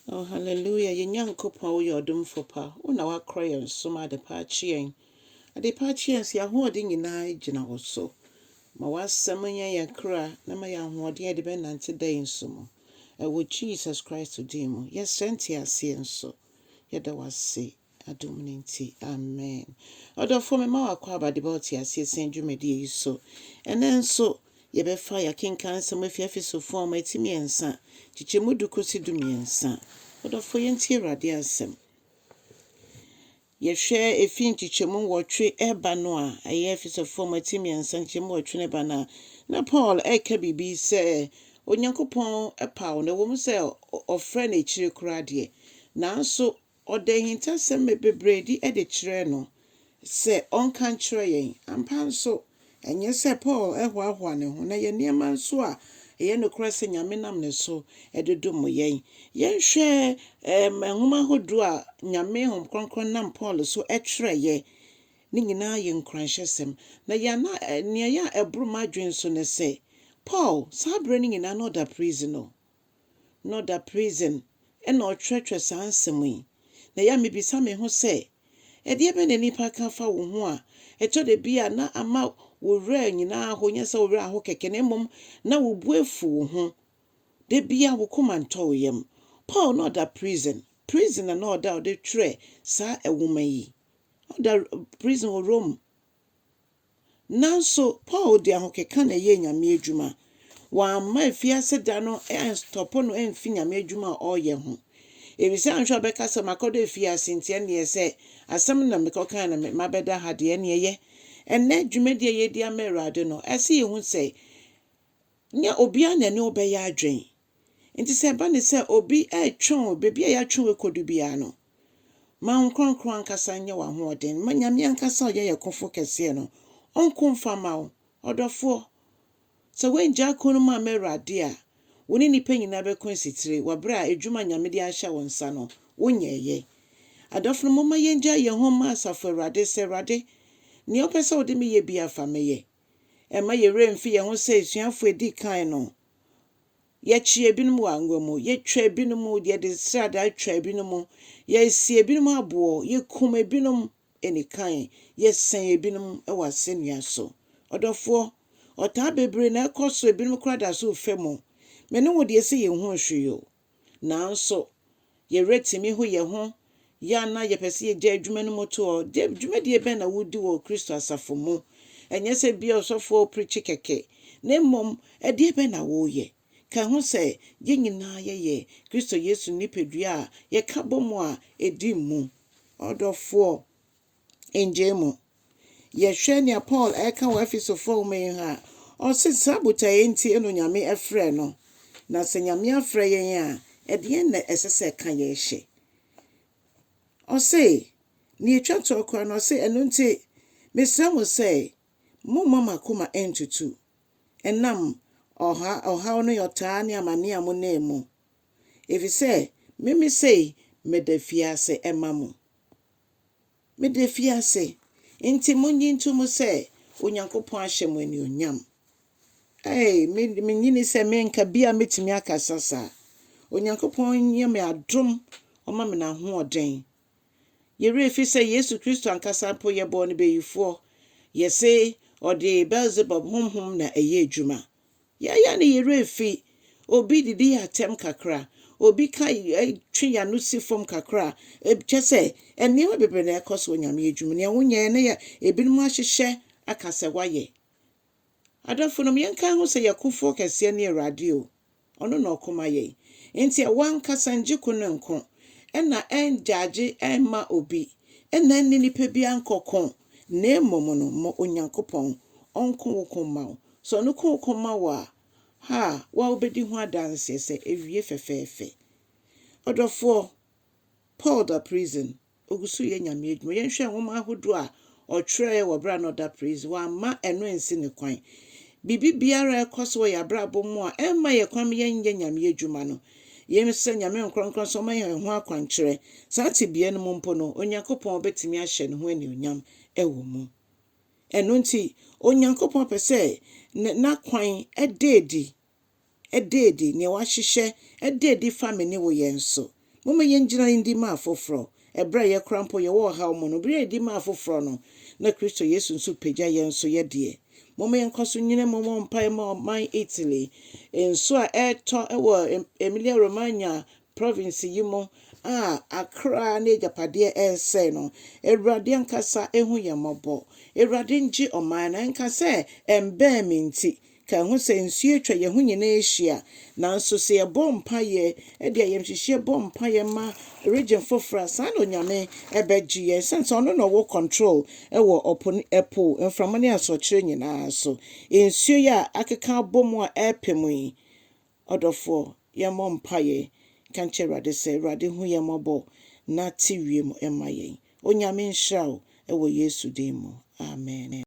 Oh hallelujah yɛn Nyankopɔn woyɛ ɔdomfo pa wo na woakorɔ yɛn so ma adepa akye yɛn adepa akye yɛn so yɛn ahoɔden nyinaa gyina wo so ma w'asɛm nyɛ yɛn kra na ma yɛn ahoɔden a yɛde bɛnante da yi nso mu ɛwɔ Jesus Christ din mu yɛsrɛ nteaseɛ nso yɛda w'ase Adom no nti, amen. Ɔdɔfoɔ, mema wo akwaaba de ba ɔteaseɛ sɛn dwumadie yi so. Ɛnnɛ nso, yɛbɛfa yɛakenkan nsɛm afi Efesofoɔ nwoma ti mmiɛnsa, nkyekyɛmu du kɔsi du mmiɛnsa. Ɔdɔfoɔ, yɛntie Awurade asɛm. Yɛhwɛ ɛfiri nkyekyɛmu nwɔtwe ɛba no a, ɛyɛ Efesofoɔ nwoma ti mmiɛnsa nkyekyɛmu nwɔtwe no ɛba no a, na Paul ɛreka biribi sɛ Onyankopɔn paw no, ɛwɔ mu sɛ ɔfrɛ no akyire koraa deɛ, nanso Ɔde ahintasɛm bebredi de kyerɛɛ no sɛ ɔnka nkyerɛ yɛn. Ampa nso, ɛnyɛ sɛ Paul hoahoa ne ho na ɛyɛ nneɛma nso a ɛyɛ nokorɛ sɛ Nyame nam ne so de dom yɛn. Yɛnhwɛ nwoma ahodoɔ a Nyame Honhom Kronkron nam Paul so twerɛeɛ no nyinaa yɛ nkuranhyɛsɛm. Na yɛn na nea ɛyɛ a ɛboro m'adwene so ne sɛ, Paul, saa berɛ no nyinaa na ɔda prison o. na ɔda prison na ɔtwerɛtwerɛ saa nsɛm yi. Na ɛyɛ a mebisa me ho sɛ, ɛdeɛ bɛn na nnipa ka fa wo ho a ɛtɔ da bi a na ama wo werɛ anyina aho, nyɛ sɛ wo werɛ aho kɛkɛ na mmom na wo bo afu wo ho, da biara wo koma ntɔ wo yam. Paul na ɔda prison, prison na na ɔda a ɔde twerɛɛ saa nwoma yi. Ɔda prison wɔ Rome. Nanso, Paul de ahokeka na ɛyɛɛ Nyame adwuma. Wamma afiase da no anstɔpo no amfi Nyame adwuma a ɔreyɛ ho. Efisɛ anhwɛ a ɔbɛka sɛ, Makɔdɔ afiase nti, ɛnneɛ sɛ asɛm no na mekɔkae na mabɛda ha deɛ, ɛnneɛ ɛyɛ. Ɛnnɛ, dwumadi a yɛredi ama Awurade no, ɛsɛ sɛ yɛhu sɛ, nyɛ obiara na ɛne wo bɛyɛ adwene. Enti sɛ ɛba no sɛ obi retwe wo baabi a yɛatwe wo akɔdu biara no, ma wo nkoankoro ankasa nyɛ w'ahoɔden. Ma Nyame ankasa a ɔyɛ yɛn Kofo Kɛseɛ no, ɔnko mfa mma wo. Ɔdɔfoɔ, sɛ woanngya ako no mu amma Awurade a, wo ne nnipa nyinaa bɛko asitire wɔ berɛ a adwuma a Nyame de ahyɛ wo nsa no, wonyɛeɛ. Adɔfonom, momma yɛngyae yɛn ho mma Asafo Awurade sɛ, Awurade, nea wopɛ sɛ wode me yɛ biara fa me yɛ. Ɛmma yɛn werɛ mfi yɛn ho sɛ asuafo a edi kan no. Yɛkyee ebinom wɔ angua mu, yetwaa ebinom, yɛde sradaa twaa ebinom, yɛasii ebinom aboɔ, yekum ebinom anikan, yɛsɛn ebinom wɔ asɛnnua so. Ɔdɔfoɔ, ɔtaa bebree na ɛkɔ so, ebinom koraa da so refa mu. Me ne wo deɛ, ɛsɛ yɛn ho hwee o. Naaso, yerɛ tsimi ho hɛnho yɛ anaa yɛpɛ sɛ yɛgyaa edwuma no mu toɔ de, dwumadie bɛn na woredi wɔ Kristo asafo mu? Nnyɛ sɛ bi a ɔsɔfo a ɔprekye kɛkɛ, na mmom ɛdeɛ bɛn na woreyɛ? Ka ho sɛ, yɛn nyinaa yɛyɛ Kristo Yesu nipadua a yɛka bɔ mu a ɛdi mu. Ɔdɔfoɔ. Nngyee mu. Yɛhwɛ nea Paul reka wɔ Efesofo nwoma yi ho a, ɔse saa botaeɛ yi nti no Nyame frɛɛ no. Na sɛ Nyame afrɛ yɛn a, ɛdeɛn na ɛsɛ sɛ ɛka yɛn hyɛ? Ɔse, nea ɛtwa toɔ koraa no, ɔse, Ɛno nti, mesrɛ mo sɛ, momma mo akoma nntutu, ɛnam ɔha, ɔhaw ne ɔtaa ne amaneɛ a monam mu, ɛfiri sɛ meme sei meda afiase ma mo. Meda fi ase. Enti monnye ntom sɛ Onyankopɔn ahyɛ mo anuonyam. Ei, me de, minnye nni sɛ me nka bi a metumi akasa saa. Onyankopɔn yɛ me adom, ɔma me n'ahoɔden. Yɛn werɛ fi sɛ Yesu Kristo ankasa mpo, yɛbɔɔ no bayifoɔ. Yɛse ɔde Beelzebub honhom na ɛyɛ adwuma. Yɛyɛ no yerɛ afi, obi didi yɛ atɛm kakra, obi ka twe yano si fam kakra, kyɛ sɛ nneɛma bebree na ɛkɔ so wɔ Nyame adwuma mu. Nea wonyɛɛ no yɛ ebinom ahyehyɛ aka sɛ woayɛ. Adɔfonom, yɛnka ho sɛ yɛn kofoɔ kɛseɛ ne Awurade o, ɔno na ɔko ma yɛn. Enti ɛwɔ ankasa ngye ko no nko, ɛna ɛngyagye ɛmma obi, ɛna ɛnne nipa biara nkɔ ko, na mmom no ma Onyankopɔn ɔnko wo ko mma wo. Sɛ ɔno kɔ kɔma wo a, ha a, wo a wobɛdi ho adanseɛ sɛ ɛwie fɛfɛɛfɛ. Ɔdɔfoɔ, Paul da prison, ɔgu so reyɛ Nyame adwuma. Yɛnhwɛ nwoma ahodoɔ a ɔtwerɛeɛ wɔ berɛ a na ɔda prison, wamma ɛno ansi ne kwan. Biribi biara a ɛkɔ so wɔ yɛn abrabɔ mu a ɛmma yɛn kwan ma yɛnyɛ Nyame adwuma no, yɛnsrɛ Nyame nkorɔnkorɔn sɛ ɔma yɛn ɛho akwankyerɛ. Saa tebea no mu mpo no, Onyankopɔn bɛtumi ahyɛ ne ho anuonyam wɔ mu. Ɛno nti, Onyankopɔn pɛ sɛ N'akwan da adi, da adi, nea Wahyehyɛ da adi fa me ne wo yɛn so. Momma yennyina nni ma afoforo. Bere a yɛn koraa mpo yɛwɔ ɔhaw mu no, bere a yedi ma afoforo no, na Kristo Yesu nso pagya yɛn nso yɛ deɛ. Momma yɛnkɔ so nnyina mu mmɔ mpae mma ɔman Italy. Nsu a ɛretɔ wɔ Emilia-Romagna Province yi mu a Accra n'agyapadeɛ ɛresɛe no, Awurade ankasa hu yɛn mmɔbɔ. Awurade ngye ɔman no. Ɛnka sɛ ɛmbɛn me nti, ka ɛho sɛ nsuo atwa yɛn ho nyinaa ahyia. Nanso sɛ yɛbɔ mpaeɛ de ayamhyehyeɛ bɔ mpaeɛ ma region foforɔ a, saa na Onyame ɛbɛgye yɛn ɛsiane sɛ Ɔno na ɔwɔ control wɔ ɔpo ne ɛpo, mframa ne asorɔkyerɛ nyinaa so. Nsuo yi a akeka abɔ mu a ɛrepɛ mu yi, Ɔdɔfoɔ, yɛmmɔ mpaeɛ nka nkyerɛ Awurade sɛ, Awurade hu yɛn mmɔbɔ na te wiem ma yɛn. Onyame nhyira wo wɔ Yesu din mu. Amen.